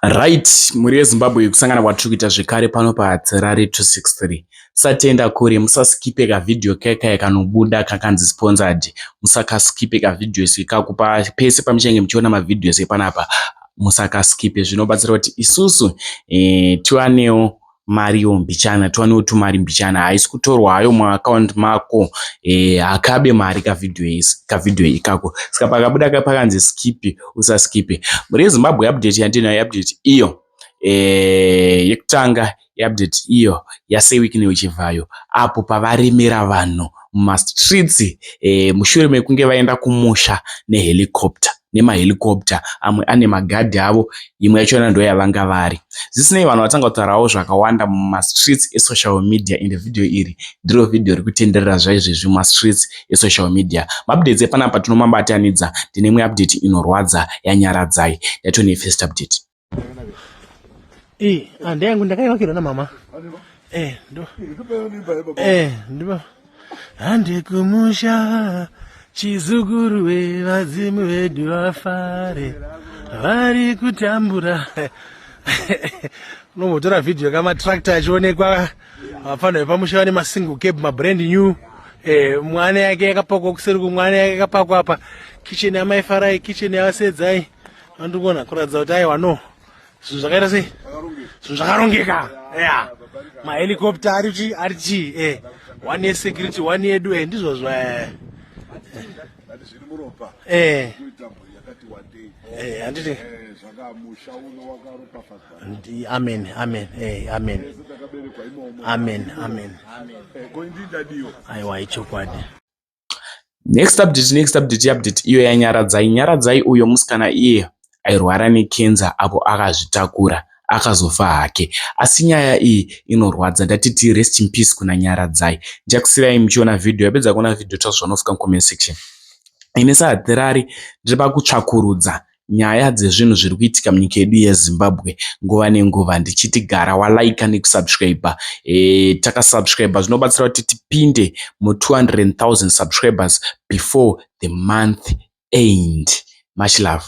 Right, mhuri yeZimbabwe kusangana kwatiri kuita zvekare pano paHatirari 263. Musatenda kure, musaskipe kavideo kekaya kanobuda kakanzi sponsored. Musakaskipe kavideo isu ikaku pese pamuchange muchiona mavideos epanapa. Musakaskipe zvinobatsira kuti isusu eh, tiwanewo mari yo mbichana tiwanewo tumari mbichana haisi kutorwa hayo muaccount mako e, akabe mari kavideo ikako saka pakabuda ka pakanzi skipe usaskipe mhuri yezimbabwe update yandinayo update iyo e, yekutanga yeupdate iyo yasewikine uchivhayo apo pavaremera vanhu mumastreets e, mushure mekunge vaenda kumusha nehelicopter nema helicopter amwe ane ma guard avo imwe yachona ndoyavanga vari. Zvisinei vanhu vatanga kutaurawo zvakawanda muma streets e social media ende video iri ndiro video rikutenderera zvaizvezvi muma streets e social media. Ma updates epanapa tinomabatanidza ndine imwe update inorwadza ya Nyaradzai yatone first update. Eh, ande yangu ndakaivakirwa na mama. Eh, ndo. Eh, ndo. Ande kumusha chizukuru we vazimu vedu vafare. Vari kutambura. Unomotora video kama tractor achionekwa vafana vepamusha vane masingle cab mabrand new. Eh, mwana yake yakapakwa kuseri kumwana yake yakapakwa apa. Kitchen yamai Farai, kitchen yavasedzayi. andikuona kuratidza kuti aiwa no zvinhu zvakaita sei zvinhu zvakarongeka ya mahelicopter ari chii ari chii e eh. one yesecurity one yedu e ndizvozvo e e Eh, handiti eh, amen amen eh, amen amen amen eh, aiwa ichokwadi Next update next update update iyo yaNyaradzai. Nyaradzai uyo musikana iye airwara nekenza apo akazvitakura akazofa hake asi nyaya iyi inorwadza ndatiti rest in peace kuna Nyaradzai. Ndichakusirai muchiona video yapedza kuona video tasvika nofika comment section. Ini sahatirari ndiri pakutsvakurudza nyaya dzezvinhu zviri kuitika munyika yedu yeZimbabwe nguva nenguva ndichiti gara walaika nekusubscriber. E, takasubscriber zvinobatsira kuti tipinde mu200,000 subscribers before the month end. Much love.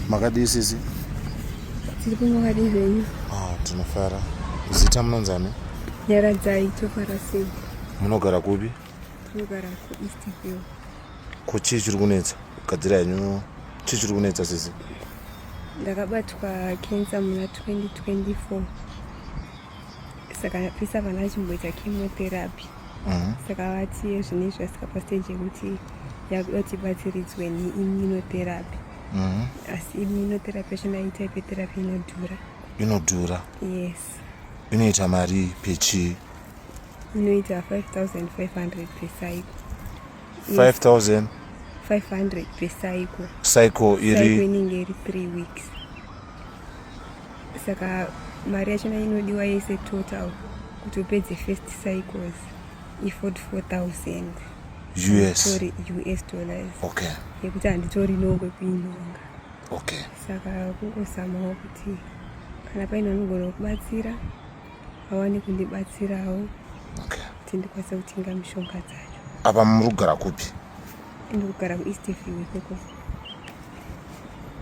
makadii sisi tiri kumakadii zvenyu ah, tinofara zita munonzi ani nyaradzai tofarasei Munogara kupi? Tinogara ku East Hill. Ko chii chiri kunetsa? Gadzira henyu. Chii chiri kunetsa sisi? Ndakabatwa cancer muna 2024. Saka pisa vana vachimboita chemotherapy. Mm. Saka vati zvine izvi vasika pa stage yekuti yakudoti batsiridzwe ni immunotherapy. Mm. Asi immunotherapy yacho ndaita ipe therapy inodhura. Inodhura? Yes. Inoita mari pechii? inoita 5500 per cycle 5000 500 per cycle cycle iri inenge iri 3 weeks saka mari yachona inodiwa yese total kuti upedze first cycles iford 4000 us sorry us dollars okay yekuti handitori nongwe kuinonga okay saka kungosamawo kuti kana paine anogona kubatsira vawane kundibatsirawo okay. kuti ndikwanise kutenga mishonga dzacho apa muri kugara kupi ndiri kugara kueast view ikoko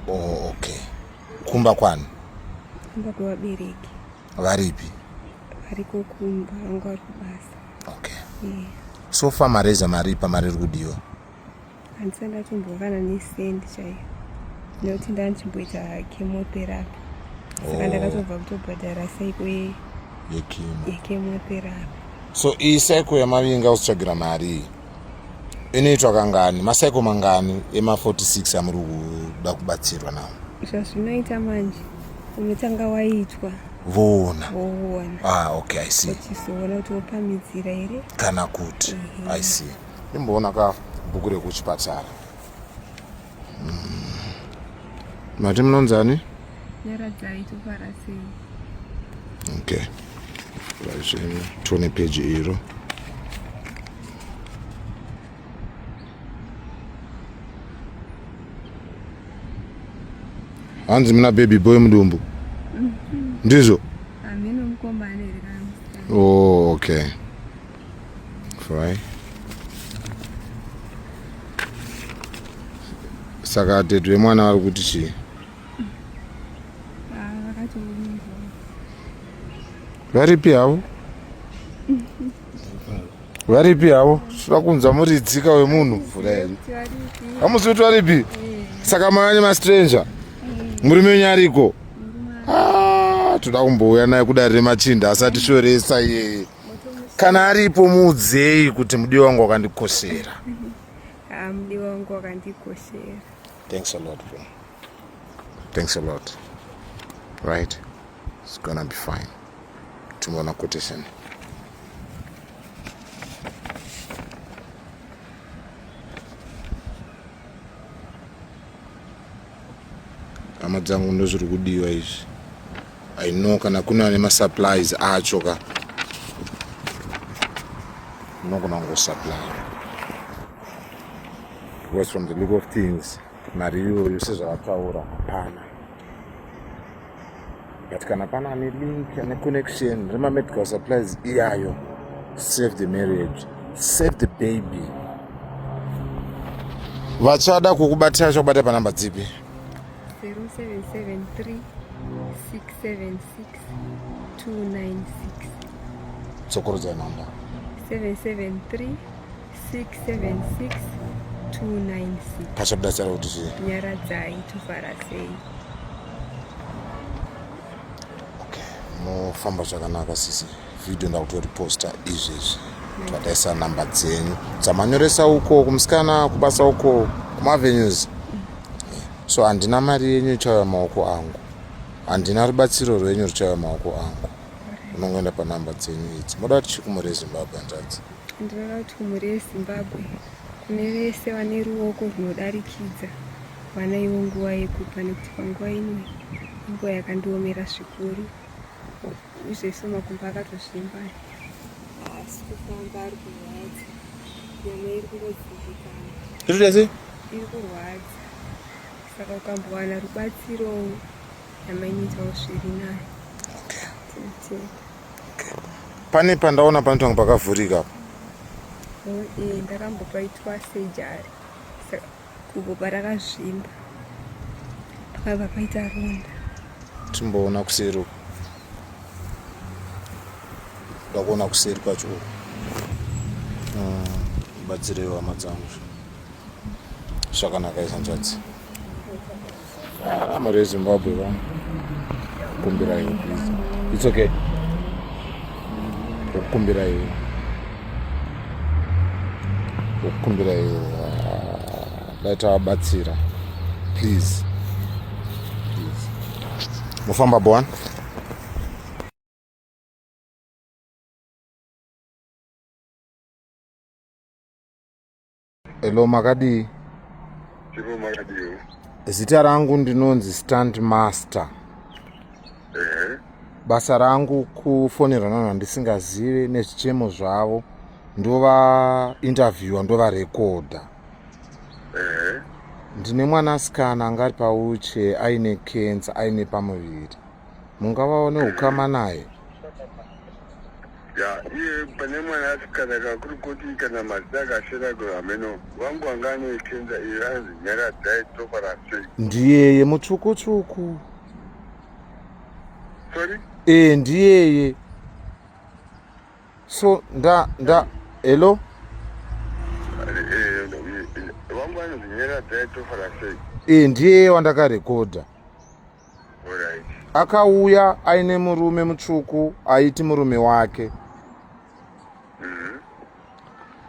oh, okay kumba kwani kumba kwevabereki varipi variko kumba vanga vari kubasa okay yeah. so far mareza maripa mari iri kudiwa handisati ndatombovana nesendi chaiyo nekuti ndanchimboita chemotherapy saka oh. ndakatobva kutobhadhara saiko yechemotherapy so iyi saiko yamavinga usitsvagira mari iyi inoitwa kangani masaiko mangani ema46 amuri kuda kubatsirwa nawo zvazvinoita manje unotanga waitwa voona ah, okay, i see kuti wopamidzira here kana kuti i see imboona ka bhuku rekuchipatara hmm. mati munonzani nyaradzai tofarasei okay vazvino tione peji iro hanzi muna baby boy mudumbu mm-hmm. ndizvo oh, okay Fry. Saka tete vemwana vari kuti chii? Varipi havo? Varipi havo? Sura kunzwa muri tsika wemunhu mvura here? Hamusi kuti varipi? Saka mavanye mastranger? Murume wenyu ariko? Ah, toda kumbouya naye kudari remachinda asati shoresa iyeye. kana aripo muudzei kuti mudi wangu wakandikoshera ah, mudi wangu wakandikoshera thanks a lot bro thanks a lot right it's gonna be fine timuona quotation hama dzangu ndozviri kudiwa izvi i know kana kuna nemasupplies acho ka unogona kungosupply because from the look of things mari iyoyo sezvavataura hapana but kana pane ane link ane connection remamedical supplies iyayo save the marriage save the baby vachada kukubatira vachakubata panamba dzipi 0773 676 296 tsokorodza namba 773 676 296 password dasara kuti zvi nyaradzai tofara sei okay mofamba zvakanaka sisi video ndakutoriposta izvezvi twadaisa number dzenyu dzamanyoresa uko kumusikana kubasa uko kumavenues so handina mari yenyu ichauya maoko angu handina rubatsiro rwenyu ruchauya maoko angu unongoenda panumber dzenyu idzi moda kuti chikumore zimbabwe hanzvadzi Ndinoda kuti kumhuri yeZimbabwe kune vese vane ruoko rwunodarikidza vanaiwo nguva yekupa nekuti panguva ino inguva yakandiomera zvikuru izvezvo makumbo akatozvimba asi kufamba ari kurwadza nyama iri kungodzimbikana irudese iri kurwadza saka ukambowana rubatsiro nyama inoitawo zviri nayo okay. pane pandaona panoita kunge pakavhurika apa eh, ndakambopaitwa sejari kubva parakazvimba pakabva paita ronda timboona kuseri uko ndakuona kuseri kwacho uko ah, batsireiwo hama dzangu zvakanaka izanzvadzi Ah, mari yezimbabwe vanhu kumbira iwe please its okay okukumbira iwe okukumbira iwe ah, dai tavabatsira please mofamba boan Hello makadii? Chiro makadii? Zita rangu ndinonzi Stand Master. Eh. Basa rangu kufonera vanhu vandisingazive nezvichemo zvavo ndova interviewer ndova recorder. Eh. Ndine mwanasikana angari pauche aine cancer aine pamuviri. mungavaone ukama naye ya iye pane mwana asikana kakuri kuti kana mazita akashera kuri hameno wangu wanga anoitenza iyo anzi nyara dzai tofa rasei ndiyeye mutsvuku tsvuku sorry ee ndiyeye so nda nda hello ee ndiyeye wandakarekodha akauya aine murume mutsvuku aiti murume wake mhm.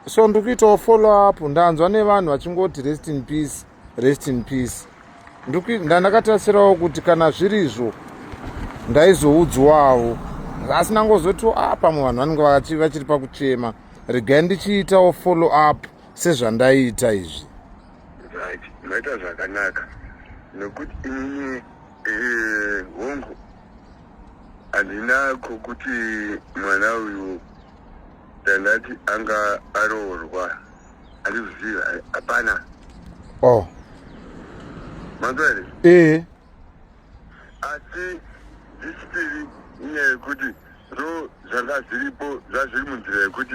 so ndiri kuitawo follow up ndanzwa nevanhu vachingoti rest in peace rest in peace ndandakatasirawo kuti kana zviri izvo ndaizoudzwawo asi nangozotiwo a ah, pamwe vanhu vanenge vakachi vachiri pakuchema regai ndichiitawo follow up sezvandaiita izvi Right, maita zvakanaka nekuti inini eh, hongu handina kokuti mwana uyu ndandati anga aroorwa handizviziva hapana oh manzwa here ee asi zvichitiri inyaya yekuti ndo zvanga zviripo zvazviri munzira yekuti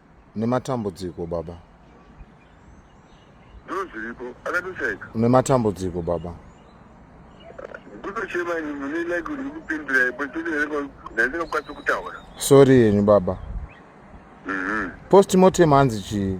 nematambudziko baba dziriko akatoshaika nematambudziko baba kutochema ini mune like uri kupindura ipo ndandingakwanisi kutaura sori yenyu baba mhm. postmortem hanzi chii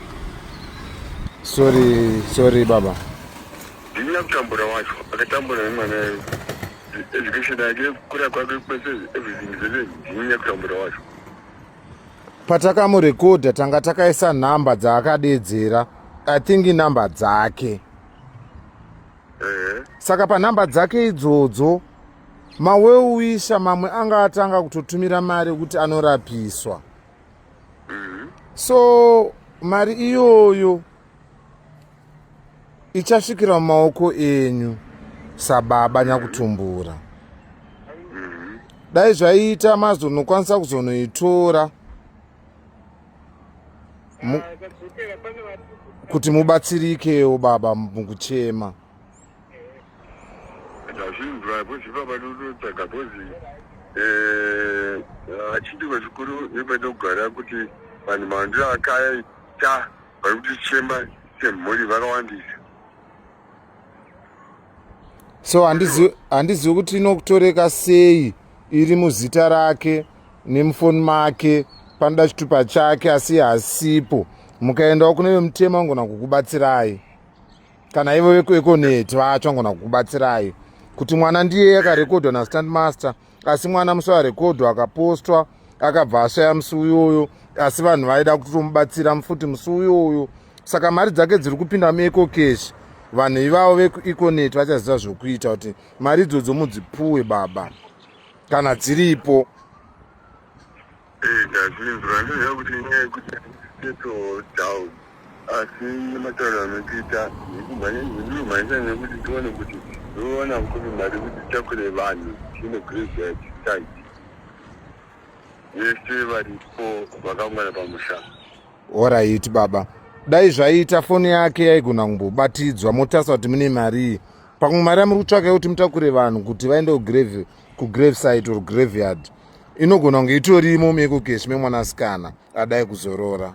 Sorry, sorry baba. Ndini akutambura wacho, akatambura nemwana yeye. Education yake kura kwake kwese everything zvese ndini akutambura wacho. Patakamurekodha tanga takaisa nhamba dzaakadedzera. I think inhamba dzake. Eh. Saka panhamba dzake idzodzo maweuwisha mamwe anga atanga kutotumira mari kuti anorapiswa. mm-hmm. so mari iyoyo ichasvikira mumaoko enyu sababa nyakutumbura mm-hmm. dai zvaiita mazonokwanisa kuzonoitora ah, kuti mubatsirikewo baba mukuchema Ndazvinzwa bhozi baba ndotsvaga bhozi eh, achidiko chikuru nepanogara kuti vanhu mandiro akaita vari kutichema semhuri vakawandisa so handizivi kuti inokutoreka sei iri muzita rake nemufoni make panoda chitupa chake asi hasipo mukaendawo kune vemutema vangona kukubatsirai kana ivo vekuekoneti vacho angona kukubatsirai kuti mwana ndiye akarekodwa nastand master asi mwana musi arekodwa akapostwa akabva ashaya musi uyoyo asi vanhu vaida kutomubatsira mufuti musi uyoyo saka mari dzake dziri kupinda mueco cash vanhu ivavo vekueconet vachaziva zvokuita kuti mari idzodzo mudzipuwe baba kana dziripo Eh, ndazvinzwa ndoziva kuti inyaya yekuti settle down asi matauro anotiita ndikumhanyisa nekuti tione kuti ndoona kuti mari kuti titakure vanhu tine graveyard site vese varipo vakangwana pamusha oraiti baba dai zvaiita foni yake yaigona kumbobatidzwa motarisa kuti mune marii pamwe mari yamuri kutsvaka yekuti mutakure vanhu kuti vaende kugrave kugrave site or graveyard inogona kunge itorimo mekokesi memwanasikana adai kuzorora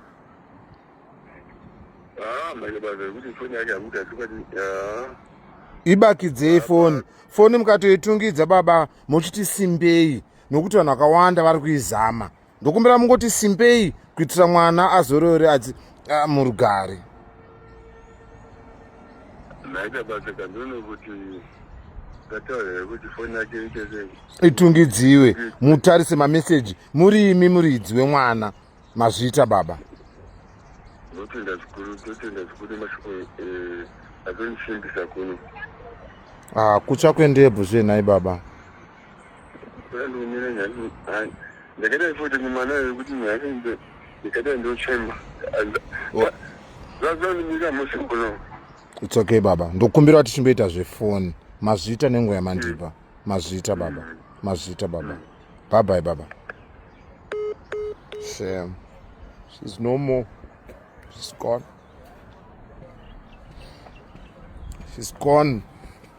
ah, ibakidzei foni foni mukatoitungidza baba mochiti simbei nokuti vanhu vakawanda vari kuizama ndokumbira mungoti simbei kuitira mwana azorore murugare itungidziwe mutarise mameseji muri imi muridzi wemwana mazviita baba ndotenda zvikuru ndotenda zvikuru mashoko eh, atondisimbisa kuno ah, kutsva kwendebvu zvenhai baba ndakaita futi mumana yekuti nhasi ndikaita ndochemba zvazandinyika musi kuno it's okay baba ndokumbira kuti chimboita zvefoni mazvita nenguva yamandipa mm. mazvita baba mm. mazvita baba babai baba shame she's no more she's gone she's gone